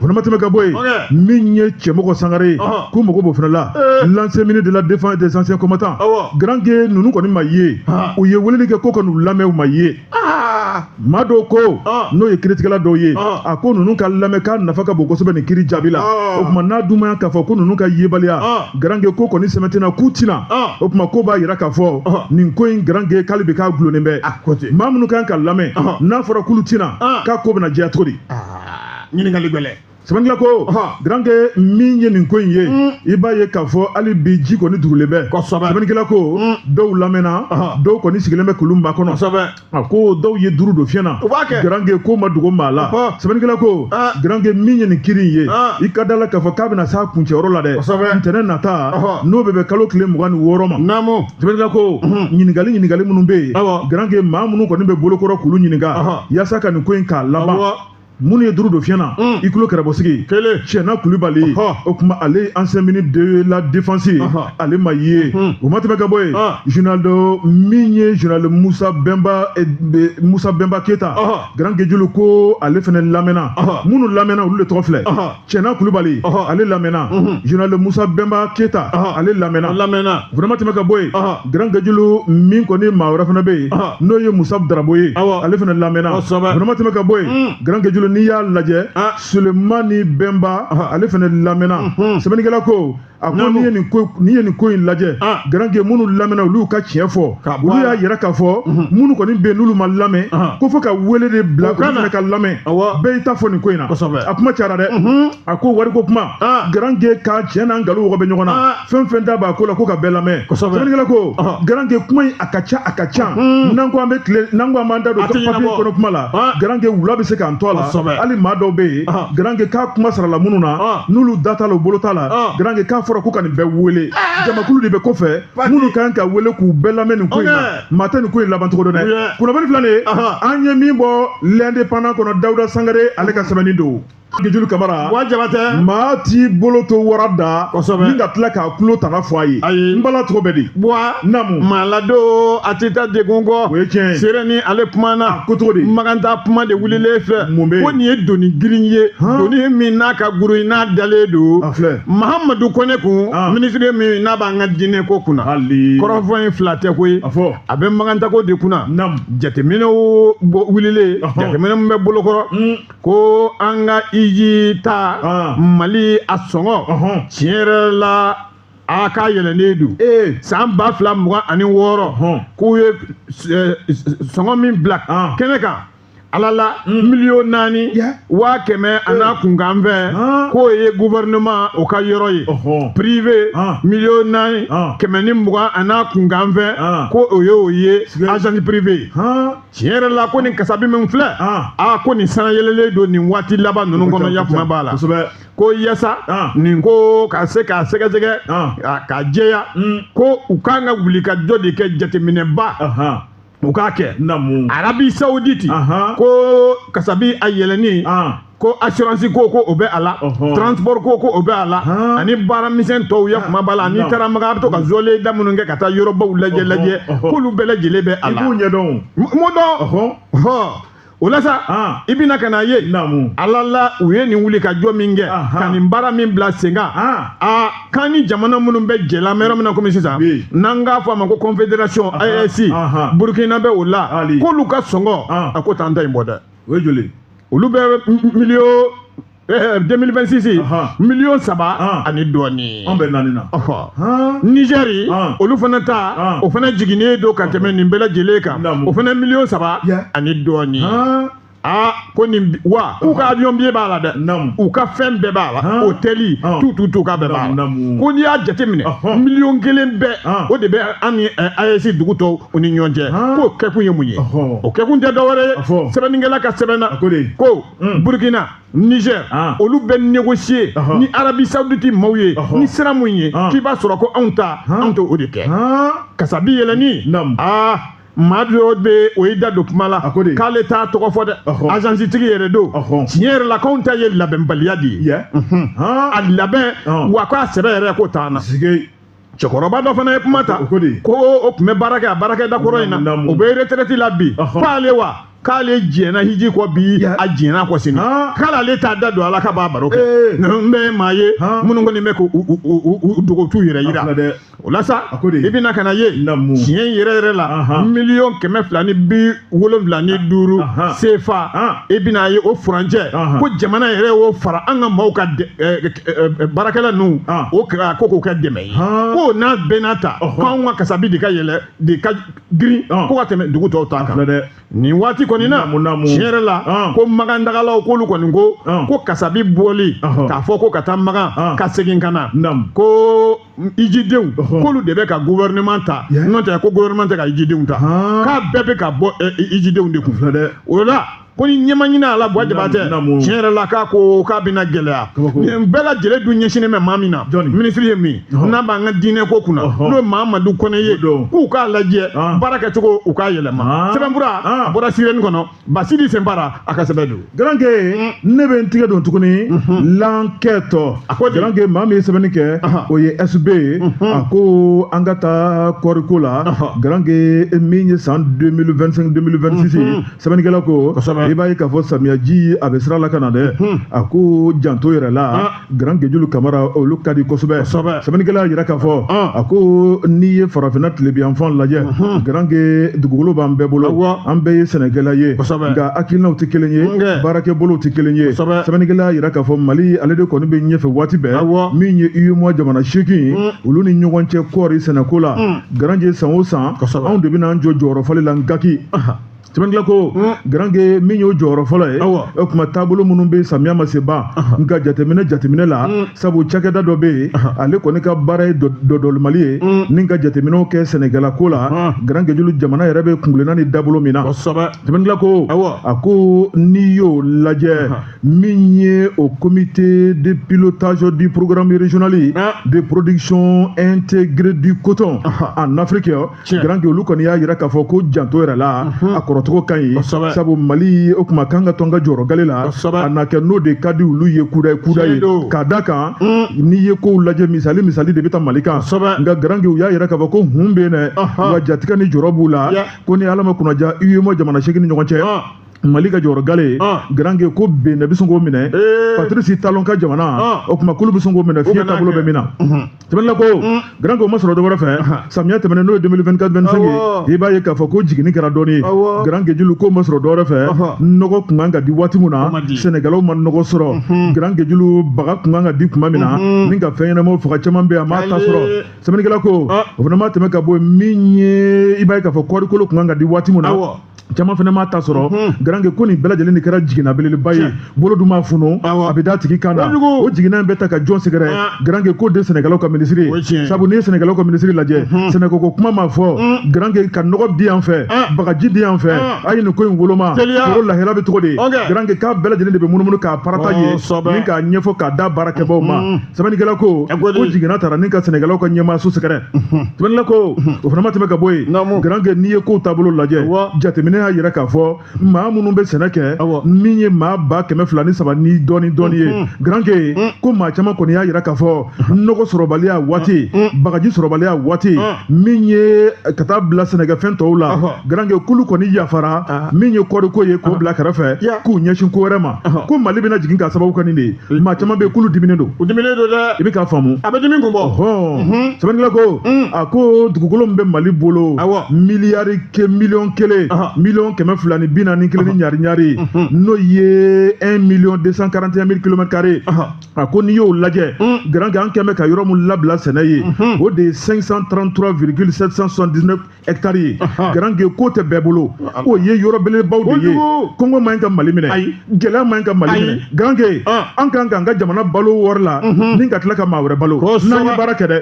O fana ma tɛmɛ ka bɔ yen Ɔkɛ. min ye cɛmɔgɔ sangare ye Ɔhɔn. k'u mago b'o fana la Ee. l'ancien ministre de la défense des anciens combattants Awɔ. garanke ninnu kɔni ma ye Ɔhɔn. u ye weleli kɛ ko ka n'u lamɛn u ma ye aa maa dɔw ko Ɔhɔn. n'o ye kiritigɛla dɔw ye Ɔhɔn. a ko ninnu ka lamɛn k'a nafa ka bon kosɛbɛ nin kiri jaabi la Ɔhɔn. o tuma n'a dumaya k'a fɔ ko ninnu ka yebaliya Ɔhɔn. garanke ko kɔni sɛmɛntiyara k'u tɛ na Ɔhɔn. o tuma ko b'a yira k'a fɔ Ɔhɔn. nin ko in garanke ko hali bi k'a dulonnen bɛ A ko ten. maa minnu kan ka lamɛn Ɔhɔn. n'a fɔra k'olu tɛ na Ɔhɔn. k'a ko bɛna jɛya cogo di aa ɲininkali gɛlɛn sɛbɛnnikɛla ko garanke min ye nin ko in ye mm. i b'a ye k'a fɔ hali bi ji kɔni duurulen bɛ sɛbɛnnikɛla ko mm. dɔw lamɛnna dɔw kɔni sigilen bɛ k'olu makɔnɔ a ko dɔw ye duuru don fiɲɛ na garanke ko ma dogo maa la sɛbɛnnikɛla ko ah. garanke min ye nin kiri in ye ah. i ka da la k'a fɔ k'a bɛna s'a kuncɛyɔrɔ la dɛ ntɛnɛn nata n'o bɛ bɛn kalo tile mugan ni wɔɔrɔ ma sɛbɛnnikɛla ko mm-hmm. ɲininkali ɲininkali minnu bɛ yen garanke maa minnu kɔni bɛ bolo kɔrɔ k'olu ɲininka yaasa ka nin ko in k'a laban minnu ye duuru don fiɲɛ na mm. i tulo kɛrɛbɔsigi cɛna kulubali o tuma ale ye ancien ministre de la défense ye ale ma ye mm-hmm. o ma tɛmɛ ka bɔ yen ah. général dɔ min ye général musa bɛnba eh, musa bɛnba keyita grand gejulu ko ale fana lamɛnna minnu lamɛnna olu de tɔgɔ filɛ cɛna kulubali ale lamɛnna général musa bɛnba keyita ale lamɛnna vraiment tɛmɛ ka bɔ yen grand gejulu min kɔni maa wɛrɛ fana bɛ yen n'o ye musa darabo ye ale fana lamɛnna vraiment tɛmɛ ka bɔ yen mm. grand gejulu n'i y'a lajɛ sulemani bɛnba ale fana lamɛnna mm-hmm. sɛbɛnnikɛla ko a ko n'i ye nin ko n'i ye nin ko in lajɛ ah. garanke minnu lamɛnna olu ka tiɲɛ fɔ olu y'a yira k'a fɔ mhm. minnu kɔni bɛ yen n'olu ma lamɛn ah. ko fo ka wele de bila olu fana ka lamɛn bɛɛ y'i ta fɔ nin ko in na a kuma cayara dɛ mhm. a ko wariko kuma ah. garanke ka tiɲɛ n'a nkalon wɔgɔ bɛ ɲɔgɔn na fɛn fɛn da b'a ko la ko ka bɛɛ lamɛn sɛbɛnnikɛla ko garanke kuma in a ka ca a ka ca mhm. n'an ko an bɛ tile n'an ko an b'an da don papiye kɔnɔ kuma la garanke wula bɛ se k'an to a la hali maa dɔw bɛ yen garanke k'a kuma sarala minnu na ah. n'olu da t'a la u bolo t'a la ah. garanke k'a fɔra ko ka nin bɛɛ wele ah. jamakulu de bɛ kɔfɛ minnu ka kan ka wele k'u bɛɛ lamɛn nin ko in na maa tɛ nin ko in laban cogo dɔn dɛ kunnafoni filɛ nin ye an ye min bɔ l'indépendant kɔnɔ dawuda sangare ale ka sɛbɛnni don gejulu kamara maa t'i bolo to wara da ni ka tila ka tulo tana fɔ a ye ayi n bala cogo bɛ di buwa namu maa ladon a tɛ taa degun kɔ o ye tiɲɛ ye seere ni ale kumana ko cogo di makantaa kuma de wulilen filɛ mun bɛ yen ko nin ye doni girin ye doni min n'a ka gurun n'a dalen don a filɛ mahamadu kɔnɛ kun minisiri min n'a b'an ka diinɛ ko kunna hali kɔrɔfɔ in fila tɛ koyi a fɔ a bɛ makantaako de kunna namu jateminɛw wulilen jateminɛ min bɛ bolokɔrɔ ko an ka hiji ta ah. mali a sɔngɔ tiɲɛ yɛrɛ la a ka yɛlɛnnen don eh. san ba fila mugan ani wɔɔrɔ k'u ye eh, sɔngɔ min bila ah. kɛnɛ kan ala la hmm. miliyɔn naani waa kɛmɛ an'a eh. kunkanfɛn ah. k'o ye gouvernement o ka yɔrɔ ye prive ah. miliyɔn naani ah. kɛmɛ ni mugan an'a kunkanfɛn ko o ye o ye agence prive tiɲɛ yɛrɛ la ko nin kasabi min filɛ a ko nin sanayɛlɛlen don nin waati laban ninnu kɔnɔ yakuma b'a la ko yasa nin ko ka se k'a sɛgɛsɛgɛ k'a jɛya hmm. ko u kan ka wulikajɔ de kɛ jateminɛba u k'a kɛ arabi sawuditi ko kasabi a yɛlɛni ko assurance ko ko o bɛ a la transport ko ko o bɛ a la ani baara misɛn tɔw ya kuma b'a la n'i taara makan a bɛ to ka zɔlen da minnu kɛ ka taa yɔrɔbaw lajɛ lajɛ k'olu bɛɛ lajɛlen bɛ a la i b'u ɲɛdɔn m'o dɔn o la sa i bɛna ka n'a ye ala la u ye nin wulikajɔ min kɛ ka nin baara min bila sen kan a k'an ni jamana minnu bɛ jɛ la mɛ yɔrɔ min na komi sisan n'an k'a fɔ a ma ko confederation AES burukina bɛ o la k'olu ka sɔngɔ a k'o t'an ta in bɔ dɛ o ye joli olu bɛ miliyo eh, 2026 ye Ahan. miliyɔn saba Ahan. ani dɔɔnin An bɛ naani na. Ɔhɔ. Han. nizɛri Ahan. olu fana ta Ahan. o fana jiginnen don ka tɛmɛ nin bɛɛ lajɛlen kan Naamu. o fana miliyɔn saba Ya. ani dɔɔnin Han. aa ko nin bi- wa k'u ka avion biye b'a la dɛ Naamu. u ka fɛn bɛɛ b'a la Ahan. hotɛli Ahan. tout tout tout k'a bɛɛ b'a la Naamu, naamu. ko n'i y'a jateminɛ Ɔhɔn. miliyɔn kelen bɛɛ Ahan. o de bɛ an ni ɛɛ, AES dugu tɔw u ni ɲɔgɔn cɛ k'o kɛkun ye mun ye o kɛkun tɛ dɔwɛrɛ ye sɛbɛnnikɛla ka sɛbɛn na ko hmm. burukina nizɛr ah. olu bɛ negosiye ni arabi sawuditi maaw ye ni sira mun ye ah. k'i b'a sɔrɔ ko anw ta anw t'o de kɛ kasabi yɛlɛnni aa maa dɔ bɛ o y'i da don kuma la k'ale t'a tɔgɔ fɔ dɛ azansitigi yɛrɛ don tiɲɛ yɛrɛ la k'anw ta ye labɛnbaliya de ye a labɛn wa k'a sɛbɛ yɛrɛ k'o t'an na cɛkɔrɔba dɔ fana ye kuma ta ko o tun bɛ baara kɛ a baarakɛda kɔrɔ in na o bɛ retraite la bi k'ale wa k'ale jɛnna hiji kɔ bi a jɛnn'a kɔ sini k'ale ale t'a da don a la ka b'a baro kɛ n bɛ maa ye minnu kɔni bɛ k'u dogo t'u yɛrɛ yira o la sa i bɛna ka n'a ye tiɲɛ yɛrɛ yɛrɛ la miliyɔn kɛmɛ fila ni bi wolonwula ni duuru sefa i bɛna ye o furancɛ ko jamana yɛrɛ y'o fara an ka maaw ka baarakɛla ninnu o ko k'o kɛ dɛmɛ ye ko n'a bɛɛ n'a ta k'anw ka kasabi de ka yɛlɛ de ka girin ko ka tɛmɛ dugu tɔw ta kan dɛ nin waati kɔni na tiɲɛ yɛrɛ la ko makan tagalaw k'olu kɔni ko ko kasabi bɔli k'a fɔ ko ka taa makan ka segin ka na ko ijidenw k'olu de bɛ ka gouvernement ta n'o tɛ ko gouvernement tɛ ka ijidenw ta k'a bɛɛ bɛ ka bɔ ijidenw de kun o la ko ni ɲɛ ma ɲini a la buwa jabate tiɲɛ yɛrɛ la k'a ko k'a bɛna gɛlɛya nin bɛɛ lajɛlen dun ɲɛsinnen bɛ maa min na minisiri ye min n'a b'an ka diinɛ ko kunna n'o ye mamadu kɔnɛ ye k'u k'a lajɛ baara kɛcogo u k'a yɛlɛma sɛbɛnfura a bɔra sirɛni kɔnɔ basidi senbara a ka sɛbɛn don garanke mm. ne bɛ n tigɛ don tuguni mm-hmm. lankɛtɔ a ko garanke maa min ye sɛbɛnni kɛ o ye sb ye mm-hmm. a ko an ka taa kɔɔriko la garanke min ye san 2025 2026 ye mm-hmm. sɛbɛnnikɛla ko i b'a ye k'a fɔ samiyaji a bɛ sira la ka na dɛ a ko janto yɛrɛ la ah. Garanke Julu Kamara olu ka di kosɛbɛ kosɛbɛ sɛbɛnnikɛla y'a jira k'a fɔ a ko n'i ye farafinna tilebiyanfan lajɛ Garanke dugukolo b'an bɛɛ bolo an bɛɛ ye sɛnɛkɛla ye kosɛbɛ nka hakilinaw tɛ kelen ye baarakɛbolow tɛ kelen ye kosɛbɛ sɛbɛnnikɛla y'a jira k'a fɔ Mali ale de kɔni bɛ ɲɛfɛ waati bɛɛ min ye UEMOA jamana seegin ye olu ni ɲɔgɔn cɛ kɔɔri sɛnɛko la Garanke san o san anw de bɛna an jɔ jɔyɔrɔ fɔlɔ la Ngaki sɛbɛnnikɛla ko garanke min y'o jɔyɔrɔ fɔlɔ ye o tuma taabolo minnu bɛ samiya ma se ban nka jateminɛ jateminɛ la sabu cakɛda dɔ bɛ yen ale kɔni ka baara ye dɔdɔlimali ye ni ka jateminɛw kɛ sɛnɛkɛla ko la garanke julu jamana yɛrɛ bɛ kungilenna ni dabolo min na sɛbɛnnikɛla ko a ko n'i y'o lajɛ min ye o comité de pilotage du programme régional de production intégrée du coton en Afrique garanke olu kɔni y'a jira k'a fɔ ko janto yɛrɛ la mhm. a kɔrɔcogo ka ɲi sabu mali o tuma kan ka to a ka jɔyɔrɔ gale la a na kɛ n'o de ka di olu ye kuda ye kuda ye k'a da kan mm. n'i ye kow lajɛ misali misali de bɛ taa mali kan nka garanke u y'a jira k'a fɔ ko hun bɛ yen dɛ wa jatigɛ ni jɔrɔ b'u la ko ni ala ma kunnaja UEMOA jamana seegin ni ɲɔgɔn cɛ ah. mali ka jɔyɔrɔ gale ye ah. garanke ko bénin bɛ sɔn k'o minɛ eh. patrice talon ka jamana ah. o tuma k'olu bɛ sɔn k'o minɛ fiɲɛ taabolo bɛ min na mhm. sɛbɛnnikɛla ko mm. garanke o ma sɔrɔ dɔ wɛrɛ fɛ samiya tɛmɛnen n'o ye 2024 25 ye i b'a ye k'a fɔ ko jiginni kɛra dɔɔni ye garanke julu k'o ma sɔrɔ dɔ wɛrɛ fɛ nɔgɔ kun kan ka di waati min na sɛnɛkɛlaw ma nɔgɔ sɔrɔ mm-hmm. garanke julu baga kun kan ka di kuma min na mm-hmm. ni ka fɛn ɲɛnamaw faga caman bɛ a m'a ta sɔrɔ sɛbɛnnikɛla ko ah. o fana ma tɛmɛ ka bɔ yen min ye i b'a ye k'a fɔ kɔɔrikolo kun kan ka di waati min na caman fana m'a ta sɔrɔ garanke ko nin bɛɛ lajɛlen de kɛra jiginna belebeleba ye bolo dun ma funu a bɛ d'a tigi kan na o jiginna in bɛ taa ka jɔn sɛgɛrɛ garanke ko de sɛnɛkɛlaw ka minisiri ye sabu n'i ye sɛnɛkɛlaw ka minisiri lajɛ sɛnɛkɛko kuma ma fɔ garanke ka nɔgɔ di yan fɛ bagaji di yan fɛ a ye nin ko in woloma foro lahala bɛ cogo di garanke k'a bɛɛ lajɛlen de bɛ munumunu k'a partager ni k'a ɲɛfɔ k'a da baarakɛbaaw ma sɛbɛnnikɛla ko k'o jiginna taara ni ka sɛnɛkɛlaw ka ɲɛmaa so sɛgɛrɛ sɛbɛnnikɛla ko o fana ma tɛmɛ ka bɔ yen garanke n'i ye kow taabolo lajɛ jateminɛ y'a yira k'a fɔ maa minnu bɛ sɛnɛ kɛ min ye maa ba kɛmɛ fila ni saba ni dɔɔni dɔɔni ye garanke ko maa caman kɔni y'a yira k'a fɔ nɔgɔ sɔrɔbaliya waati bagaji sɔrɔbaliya waati min ye ka taa bila sɛnɛkɛfɛn tɔw la garanke k'olu kɔni yafara min ye kɔɔriko ye k'o bila kɛrɛfɛ k'u ɲɛsin ko wɛrɛ ma ko mali bɛna jigin k'a sababu kɛ nin de ye maa caman bɛ yen k'olu diminen don u diminen don dɛ i bɛ k'a faamu a bɛ dimi kun bɔ hɔn sɛbɛnnikɛla ko a ko dugukolo min bɛ mali bolo awɔ miliyari ke miliyɔn kelen miliyɔn kɛmɛ fila ni bi naani kelen ni ɲari ɲari n'o ye un million deux cent quarante et un mille kilomètre carré a ko n'i y'o lajɛ garange an kɛmɛ ka yɔrɔ min labila sɛnɛ ye o de ye cinq cent trente trois virgule sept cent soixante dix neuf ɛtari ye garange k'o tɛ bɛɛ bolo o ye yɔrɔ belebaw de ye kɔngɔ man ɲi ka mali minɛ gɛlɛya man ɲi ka mali minɛ garange an kan k'an ka jamana balo wari la ni ka tila ka maa wɛrɛ balo n'an ye baara kɛ dɛ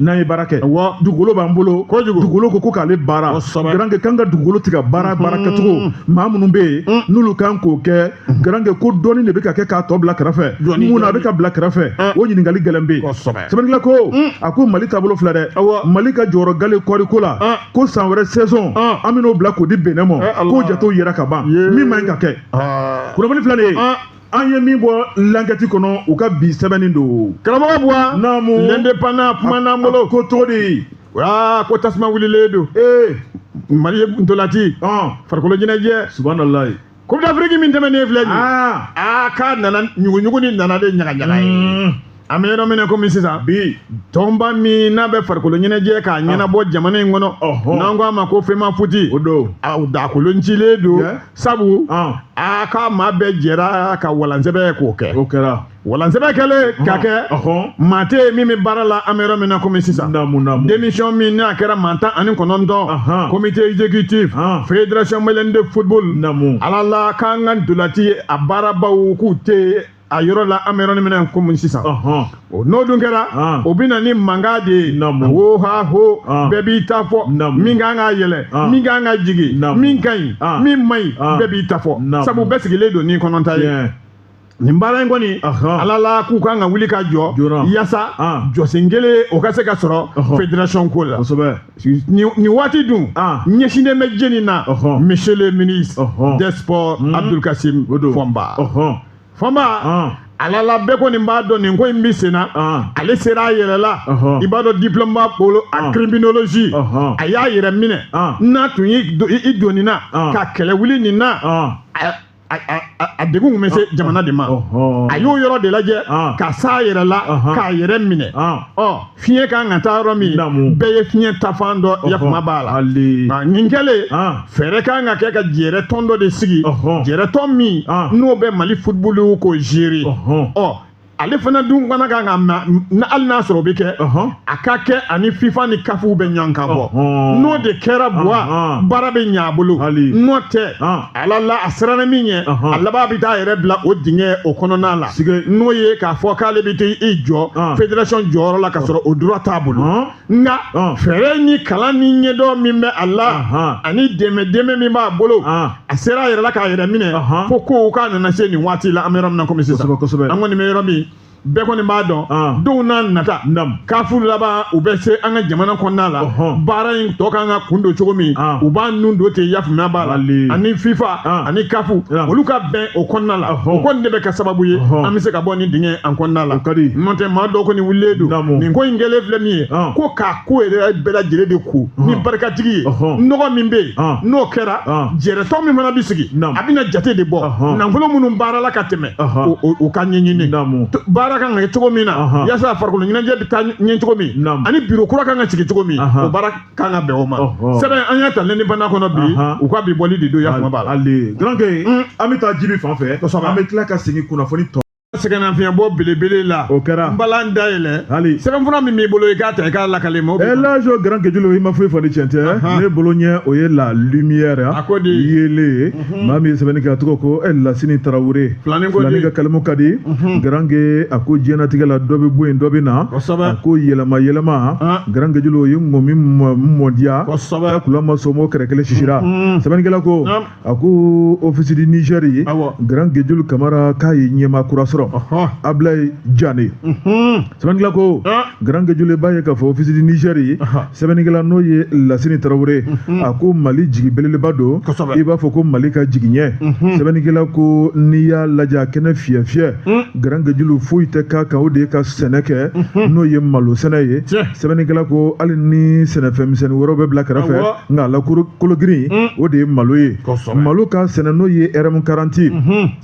n'an ye baara kɛ dugukolo b'an bolo dugukolo ko ko k'ale baara garange k'an ka dugukolo tɛ ka baara baara kɛcogo maa minnu bɛ yen n'olu kan k'o kɛ garange ko dɔɔni de bɛ ka kɛ k'a tɔ bila kɛrɛfɛ mun na a bɛ ka bila kɛrɛfɛ o ɲininkali gɛlɛn bɛ yen sɛbɛnnikɛla ko mm. a ko mali taabolo filɛ dɛ mali ka jɔyɔrɔ gale kɔɔriko la ah. ko san wɛrɛ saison ah. an bɛn'o bila k'o di benin ma eh, k'o jatew yira ka ban min man ɲi ka kɛ ah. kunnafoni filɛ nin ye an ye min bɔ lankɛti kɔnɔ u ka bi sɛbɛnni don karamɔgɔ buwa naamu L'Indépendant kuma n'an bolo ko cogo di aa ko tasuma wulilen don ee mali ye ntolati farikolo ɲɛnajɛ subahanallahi Coupe d'Afrique min tɛmɛnen filɛ nin ye aa aa k'a nana ɲuguɲugu ni nana de ɲagaɲaga ye Mm. an bɛ yɔrɔ min na komi sisan bi tɔnba min n'a bɛ farikolo ɲɛnajɛ k'a ɲɛnabɔ jamana in kɔnɔ Ɔhɔn. n'an ko a ma ko FEMAFOOT o don a dakolon cilen don Yeah. sabu Ah. a ka maa bɛɛ jɛra ka walansɛbɛ k'o kɛ o kɛra walansɛbɛ kɛlen ka kɛ maa tɛ yen min bɛ baara la an bɛ yɔrɔ min na komi sisan démission min n'a kɛra maa tan ani kɔnɔntɔn comité exécutif fédération malienne de football ala la k'an ka ntolati a baarabaw k'u tɛ a yɔrɔ la an bɛ yɔrɔ min na komi sisan o n'o dun kɛra o bɛ na ni mankan de ye ho ha ho bɛɛ b'i ta fɔ min kan ka yɛlɛ min kan ka jigin min ka ɲi min man ɲi bɛɛ b'i ta fɔ sabu bɛɛ sigilen don n'i kɔnɔ ta ye. nin baara in kɔni ala la k'u kan ka wuli ka jɔ yasa jɔsen kelen o ka se ka sɔrɔ federation ko la nin waati dun ɲɛsinnen bɛ jɛni na monsieur le ministre des sports hmm. abdul kasim fɔnba fɔnba ala la bɛɛ kɔni b'a dɔn nin ko in bɛ senna ale sera a yɛrɛ la i b'a dɔn diplôme b'a bolo en criminologie a y'a yɛrɛ minɛ n'a tun y'i don nin na ka kɛlɛ wuli nin na a degun kun bɛ se jamana de ma a y'o yɔrɔ de lajɛ ka s'a yɛrɛ la k'a yɛrɛ minɛ ɔ fiɲɛ kan ka taa yɔrɔ min bɛɛ ye fiɲɛ taafan dɔn yafama b'a la nin kɛlen fɛɛrɛ kan ka kɛ ka jɛrɛ tɔn dɔ de sigi jɛrɛ tɔn min n'o bɛ mali football ko gérer ɔ ale fana dun fana kan ka ma na hali n'a sɔrɔ o bɛ kɛ a ka kɛ ani fifa ni caf bɛ ɲɔgɔn kan bɔ n'o de kɛra buwa baara bɛ ɲɛ a bolo n'o tɛ ala la a siranna min ɲɛ a laban bɛ t'a yɛrɛ bila o dingɛ o kɔnɔna la n'o ye k'a fɔ k'ale bɛ t'i jɔ federation jɔyɔrɔ la ka sɔrɔ o droit t'a bolo. nka fɛɛrɛ ni kalan ni ɲɛdɔn min bɛ a la ani dɛmɛ dɛmɛ min b'a bolo a sera a yɛrɛ la k'a yɛrɛ minɛ fo ko k'a nana se nin waati la an bɛ yɔrɔ min na komi sisan an kɔni bɛ yɔrɔ min bɛɛ kɔni b'a dɔn ah. denw n'a nata kafu laban u bɛ se an ka jamana kɔnɔna la baara in tɔ kan ka kun don cogo min ah. u b'a nun don ten yafama b'a la ani fifa ah. ani caf olu ka bɛn o kɔnɔna la o kɔni de bɛ kɛ sababu ye an bɛ se ka bɔ nin dingɛ in kɔnɔna la n'o tɛ maa dɔw kɔni wulilen don nin ko in kɛlen filɛ min ye ko k'a ko yɛrɛ bɛɛ lajɛlen de ko ni barikatigi ye nɔgɔ min bɛ yen n'o kɛra jɛrɛtɔn min fana bɛ sigi a bɛna jate de bɔ nafolo minnu baarala ka tɛmɛ o ka ɲɛɲini baara kan ka kɛ cogo min na yasa farikolo ɲɛnajɛ bɛ taa ɲɛ cogo min ani biro kura kan ka sigi cogo min o baara kan ka bɛn o ma sɛbɛn an y'a ta l'indépendant kɔnɔ bi u ka bi bɔli de don yafama b'a la ale garange mm. an bɛ taa jibi fan fɛ kosɛbɛ an bɛ tila ka segin kunnafoni tɔ sɛgɛnnafiɲɛbɔ belebele la o kɛra n balan dayɛlɛ hali sɛbɛnfura min b'i bolo i k'a ta i k'a lakale mɔgɔw bɛ lajo garange julu i ma foyi fɔ ni cɛn tɛ ne bolo ɲɛ o ye la lumière a ko de yeelen Mhm. maa min ye sɛbɛnni kɛ a tɔgɔ ko eh, lasini tarawele filani ka kalimu ka di mhm. garange a ko diɲɛnatigɛ la dɔ bɛ bɔ yen dɔ bɛ na a ko yɛlɛma yɛlɛma ah. garange julu o ye ŋɔmi mɔ diya a ko n'a ma sɔn o kɛrɛ kelen sisira mhm. sɛbɛnnikɛla ko a ko ofisi di nizɛri ye garange julu kamara k'a ye ɲɛmaa kura sɔrɔ ablayi jane sɛbɛnnikɛla ko garange julu i b'a ye k'a fɔ ofisi di nizɛri ye sɛbɛnnikɛla n'o ye lasini tarawele mhm. a ko mali jigi belebeleba don i b'a fɔ ko mali ka jigiɲɛ mhm. sɛbɛnnikɛla ko n'i y'a lajɛ a kɛnɛ fiyɛ fiyɛ mhm. garange julu foyi tɛ k'a kan o de ye ka sɛnɛ kɛ n'o ye malo sɛnɛ ye sɛbɛnnikɛla ko hali ni sɛnɛfɛn misɛnnin wɛrɛw bɛ bila kɛrɛfɛ nka a la kologirin o de ye malo ye malo ka sɛnɛ n'o ye rm karanti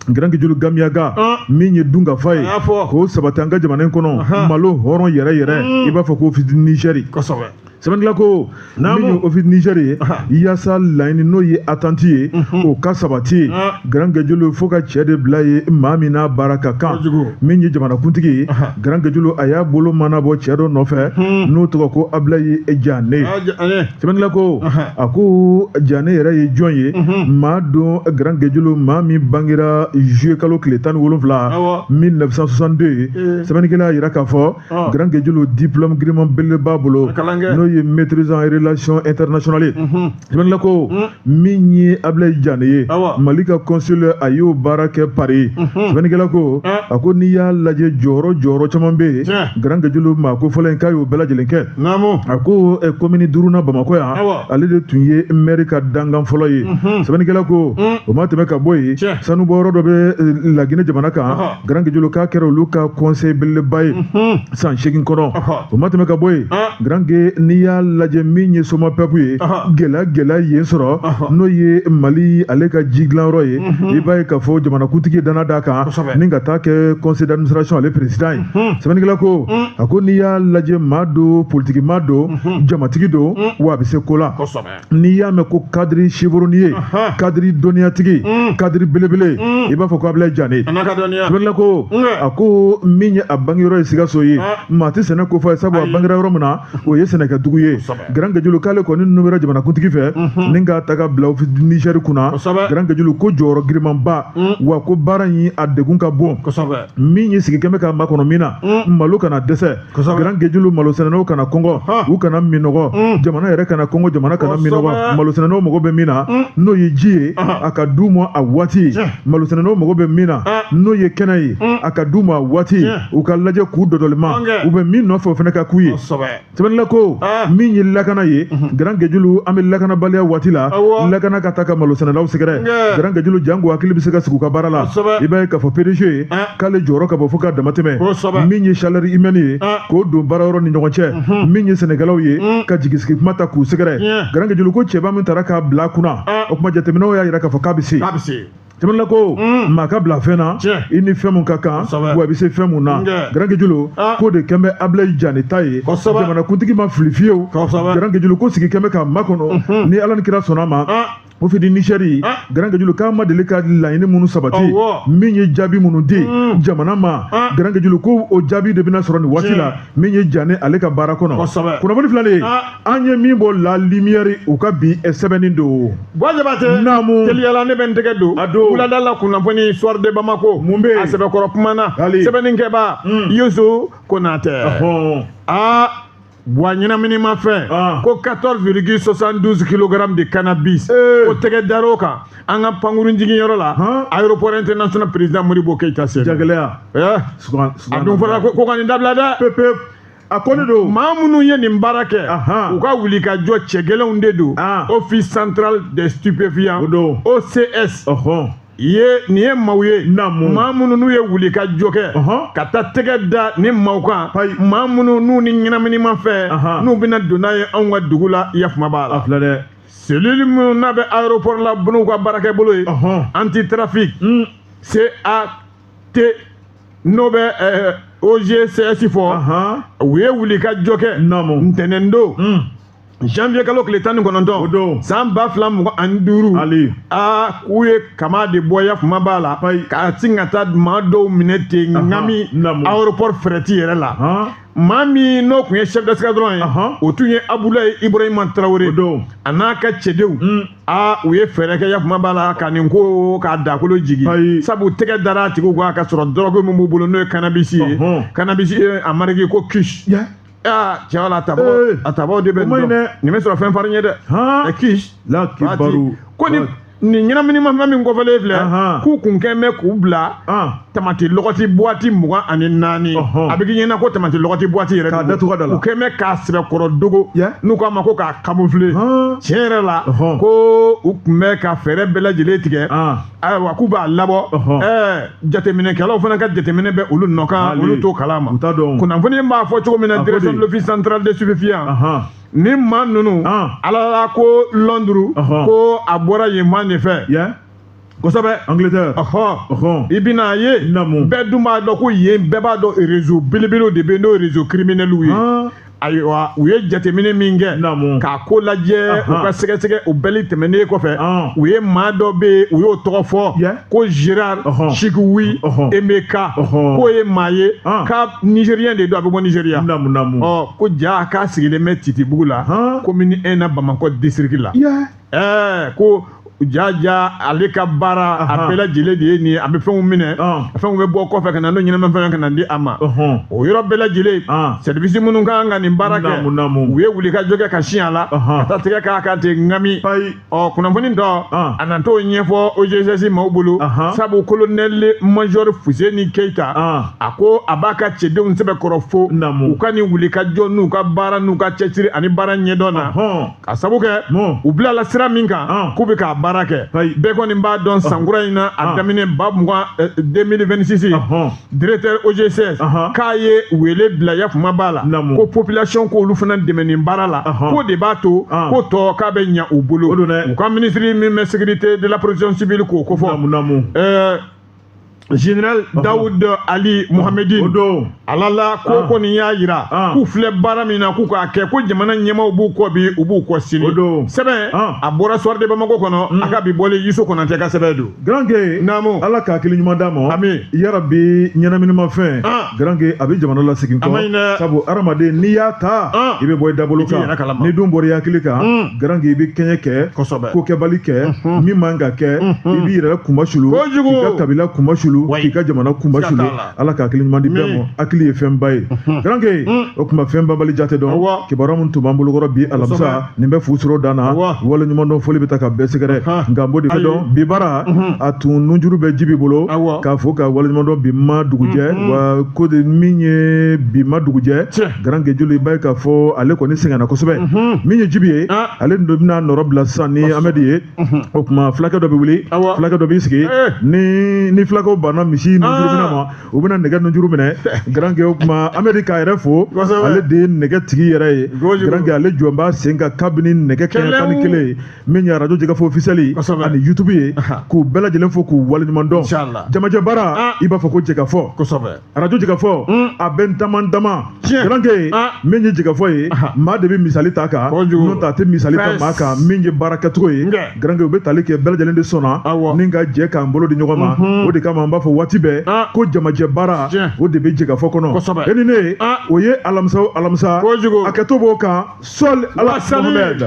Garankejulu gamiyaga min ye dunkafa ye k'o sabati an ka jamana in kɔnɔ malo hɔrɔn yɛrɛ yɛrɛ i b'a fɔ ko Office du Niger sɛbɛnnikɛla ko min ye Office du Niger ye yaasa laɲini n'o ye atanti ye o ka sabati ye garankejulu fo ka cɛ de bila yen maa min n'a baara ka kan min ye jamanakuntigi ye garankejulu a y'a bolo mɔɔnɔbɔ cɛ dɔ nɔfɛ n'o tɔgɔ ko abilayi jane sɛbɛnnikɛla ko a ko jane yɛrɛ ye jɔn ye maa don garankejulu maa min bangera juillet kalo tile tan ni wolonwula 1962 sɛbɛnnikɛla y'a yira k'a fɔ garankejulu diplôme giriman belebele b'a bolo n'o ye maîtrise en relation internationale Sɛbɛnnikɛla ko hmm. min ye abilayi jane ye mali ka consul a y'o baara kɛ pari sɛbɛnnikɛla hmm. ko eh. a ko n'i y'a lajɛ jɔyɔrɔ jɔyɔrɔ caman bɛ yen eh. garankejulu maa kofɔlen in k'a y'o bɛɛ lajɛlen kɛ a ko eh, komini duurunan bamakɔ yan ale de tun ye mɛri ka dankan fɔlɔ ye sɛbɛnnikɛla ko hmm. o ma tɛmɛ ka bɔ yen sanubɔyɔrɔ dɔ bɛ laginɛ jamana kan Garankejulu k'a kɛra olu ka conseil belebeleba ye san seegin kɔnɔ o ma tɛmɛ ka bɔ yen garankɛ n'i y'a lajɛ min ye somapɛpu ye gɛlɛya gɛlɛya yen sɔrɔ n'o ye mali ale ka ji dilanyɔrɔ ye i b'a ye k'a fɔ jamanakuntigi ye dannaya d'a kan ni ka t'a kɛ conseil d'administration ale président ye sɛbɛnnikɛla ko a ko n'i y'a lajɛ maa don politikimaa don jamatigi don wa a bɛ se ko la n'i y'a mɛn ko kadiri chevronné ye kadiri dɔnniyatigi mm. kadiri belebele mm. i b'a fɔ ko abilayi jane sɛbɛnnikɛla ko a ko min ye a bangeyɔrɔ ye sikaso ye ah. maa tɛ sɛnɛko f'a ye sabu a bangera yɔrɔ min na o ye sɛnɛkɛdugu ye garankejulu k'ale kɔni nomera jamanakuntigi fɛ mm-hmm. ni k'a ta k'a bila nizɛri kunna garankejulu ko jɔyɔrɔ girimanba mm. wa ko baara in a degun ka bon min ye sigi kɛn bɛ k'a makɔnɔ min na malo kana dɛsɛ Garankejulu malosɛnɛnaw kana kɔngɔ u kana minɔgɔ mm. jamana yɛrɛ kana kɔngɔ jamana kana minɔgɔ malosɛnɛnaw mago bɛ min na mm. n'o ye ji ye a ka d'u ma a waati malosɛnɛnaw mago bɛ min na n'o ye kɛnɛ ye mm. a ka d'u ma a waati u ka lajɛ k'u dɔdɔlima u bɛ min nɔfɛ o fana ka k'u ye sɛbɛnnikɛla ko min ye lakana ye mm-hmm. garankejulu an bɛ lakanabaliya waati la lakana ka taa ka malosɛnɛlaw sɛgɛrɛ garankejulu janko hakili bɛ se ka sigi u ka baara la i b'a ye k'a fɔ PDG ye k'ale jɔyɔrɔ ka bon fo ka damatɛmɛ min ye chaleur humaine ye ah. k'o don baarayɔrɔ ni ɲɔgɔn cɛ mhm. min ye sɛnɛkɛlaw ye mm. ka jigisigi kuma ta k'u sɛgɛrɛ garankejulu ko cɛba min tara k'a bila kunna ah. o kuma jateminɛw y'a yira k'a fɔ k'a bɛ se sɛbɛnnikɛla ko mm. maa ka bila fɛn na i ni fɛn min ka kan wa i bɛ se fɛn min na garankejulu ah. k'o de kɛn bɛ abilayi jane ta ye jamanakuntigi ma fili fiyewu garankejulu ko sigi kɛn bɛ k'a makɔnɔ mhm. ni ala ni kira sɔnna a ma o fidi nizɛri ah. garankejulu k'a ma deli ka laɲini minnu sabati min ye jaabi minnu di hmm. jamana ma ah. garankejulu ko o jaabi de bɛna sɔrɔ nin waati la min ye jane ale ka baara kɔnɔ kunnafoni filalen ah. an ye min bɔ la limiyɛri u ka bi eh, sɛbɛnni don bon jabate naamu teliyala ne bɛ n tɛgɛ don a don wulada la kunnafoni soir de bamako mun bɛ a sɛbɛkɔrɔ kuma na sɛbɛnnikɛbaa hmm. yusu konatɛ aa wa ɲɛnaminimafɛn ah. ko 14,72 kg de cannabis eh. o tɛgɛ dar'o kan an ka pankurun jiginyɔrɔ la aéroport international président modibo keyita senu jagɛlɛya eh. a dun fɔra ko ka nin dabila dɛ pewu pewu a ko ne don maa minnu ye nin baara kɛ u ka wuli ka jɔ cɛ gɛlɛnw de don ah. office central des stupéfiants o don ocs ye nin ye maaw ye maa minnu n'u ye wuli ka jɔ kɛ ka taa tɛgɛ da ni maaw kan maa minnu n'u ni ɲɛnaminimafɛn u bɛna don n'a ye anw ka dugu la yafuma b'a la filɛ dɛ selili minnu n'a bɛ aéroport la n'u ka baarakɛ bolo ye anti trafic hmm. CAT n'o bɛ OGCS fɔ u ye wuli ka jɔ kɛ ntɛnɛn don hmm. janvier kalo tile tan ni kɔnɔntɔn o don san ba fila mugan ani duuru ali aa k'u ye kama de bɔ yafuma b'a la ka sin ka taa maa dɔw minɛ ten ŋami aéroport fɛrɛti yɛrɛ la maa min n'o tun ye chef d'escadron ye o tun ye abulayi ibrahima tarawele a n'a ka cɛdenw hmm. a u ye fɛɛrɛ kɛ yafuma b'a la ka nin ko k'a dakolo jigin sabu tɛgɛ dara a tigiw kan ka sɔrɔ dɔrɔgu min b'u bolo n'o ye kanabisi ye kanabisi a mariki ko kusi aa cɛ wala a tabaaw Ee. a tabaaw de bɛ O ma ɲi nin dɛ. dɔn nin bɛ sɔrɔ fɛn farin ye dɛ Han. ɛ kisi La Fati, kibaru. ko ni nin ɲɛnaminimafɛn min kofɔlen filɛ Ahan. k'u kun kɛn bɛ k'u bila An. tamati lɔgɔti buwati mugan ani naani Ɔhɔn. a bɛ k'i ɲɛna ko tamati lɔgɔti buwati yɛrɛ K'a don. datugu a da la. u kɛn bɛ k'a sɛbɛkɔrɔ dogo Yɛ. n'u k'a ma ko k'a kamufule Han. tiɲɛ yɛrɛ la Ɔhɔn. ko u tun bɛ ka fɛɛrɛ bɛɛ lajɛlen tigɛ An. ayiwa k'u b'a labɔ ɛɛ jateminɛkɛlaw fana ka jateminɛ bɛ olu nɔ kan olu t'o kalama kunnafoni b'a fɔ cogo min na direction de l'office central des stupéfiants ni maa ninnu alala ko lɔnduru ko a bɔra yen maa de fɛ kosɛbɛ angleterre ɔhɔn i bɛna a ye bɛɛ dun b'a dɔn ko yen bɛɛ b'a dɔn rezo belebelew de bɛ yen n'o rezo kiriminɛliw ye ayiwa u ye jateminɛ min kɛ k'a ko lajɛ u ka sɛgɛsɛgɛ o bɛɛ tɛmɛnen kɔfɛ u ye maa dɔ bɛ yen u y'o tɔgɔ fɔ ko gerard sikiwi emeka k'o ye maa ye ko nizeriyɛn de don a bɛ bɔ nizeriya ɔ ko jaa k'a sigilen bɛ titibugu la komini ɛn na bamakɔ disitiriki la ɛɛ ko jaja ale ka baara a bɛɛ lajɛlen de ye nin ye a bɛ fɛnw minɛ fɛnw bɛ bɔ kɔfɛ ka na n'o ɲɛnama fɛn ka na di a ma o yɔrɔ bɛɛ lajɛlen sɛribisi minnu kan ka nin baara kɛ u ye wuli ka jɔ kɛ ka sin a la ka taa tigɛ k'a kan ten ŋami ɔ kunnafoni dɔ a na t'o ɲɛfɔ OCS maaw bolo sabu kolonɛli majɔri Fuseni Keyita a ko a b'a ka cɛdenw sɛbɛkɔrɔ fo u ka nin wuli ka jɔ n'u ka baara n'u ka cɛsiri ani baara ɲɛdɔn na. ka sabu kɛ u bilala sira min kan k'u bɛ k'a baara kɛ bɛɛ kɔni b'a dɔn sankura in na a daminɛ ba mugan 2026 eh, directeur OCS k'a ye wele bila yafuma b'a la ko population k'olu fana dɛmɛ nin baara la k'o de b'a to ko tɔ k'a bɛ ɲa u bolo u ka minisiri min bɛ sécurité de la protection civile k'o kofɔ général Daoud Ali Mohamedin o don ala la ko kɔni y'a jira k'u filɛ baara min na k'u k'a kɛ ko jamana ɲɛmaaw b'u kɔ bi u b'u kɔ sini o don sɛbɛn a bɔra Soir de Bamako kɔnɔ a ka bi bɔlen Yusu Konatɛ ka sɛbɛn don garanke naamu ala ka hakili ɲuman d'an ma ami yarabi ɲɛnaminimafɛn garanke a bɛ jamana lasegin kɔ sabu hadamaden n'i y'a ta i bɛ bɔ i dabolo kan n'i dun bɔra i hakili kan garanke i bɛ kɛɲɛ kɛ kosɛbɛ ko kɛbali kɛ min man ka kɛ i b'i yɛrɛ kunmasulu k'i ka kabila kunmasulu k'i ka jamana kunmasulu ala ka hakili ɲuman di bɛɛ ma hakili ye fɛnba ye garanke o tuma fɛn banbali jate don kibaruya min tun b'an bolokɔrɔ bi alamisa nin bɛ fu soro dan na wale ɲuman dɔn foli bɛ taa ka bɛɛ sɛgɛrɛ nka n b'o de dɔn bi baara a tun nunjuru bɛ Jibi bolo k'a fɔ ka wale ɲuman dɔn bi ma dugujɛ wa ko de min ye bi ma dugujɛ garanke joli i b'a ye k'a fɔ ale kɔni sɛgɛnna kosɛbɛ mhm. min ye Jibi ye ah. ale dun bɛna nɔrɔbila sisan ni Amɛdi ye mhm. o tuma fulakɛ dɔ bɛ wuli fulakɛ dɔ b'i sigi eh. ni ni fulakɛw banna misi nunjuru minɛ ma ah. u bɛna nɛgɛ nunjuru minɛ garanke o tuma Amɛdi k'a yɛrɛ fo ale de ye nɛgɛ tigi yɛrɛ ye garanke ale jɔlen b'a sen kan kabini nɛgɛ kɛɲɛ tan ni kelen ye min ye radio Jɛkafɔ officiel ani YouTube ye k'u bɛɛ lajɛlen fo k'u waleɲuman dɔn jamajɛ baara ah. i b'a fɔ ko Jɛkafɔ radio Jɛkafɔ hmm. a bɛ n daman dama garanke ah. min ye Jɛkafɔ ye maa de bɛ misali ta kan n'o tɛ a tɛ misali ta maa kan min ye baara kɛcogo ye garanke u bɛ tali kɛ bɛɛ lajɛlen de sɔnna n'an ka jɛ k'an bolo di ɲɔgɔn ma mhm. o de kama an b'a fɔ waati bɛɛ ah. ko jamajɛ baara o de bɛ Jɛkafɔ kɔnɔ e ni ne ah. o ye alamisa alamisa a kɛtɔ b'o kan sɔli ala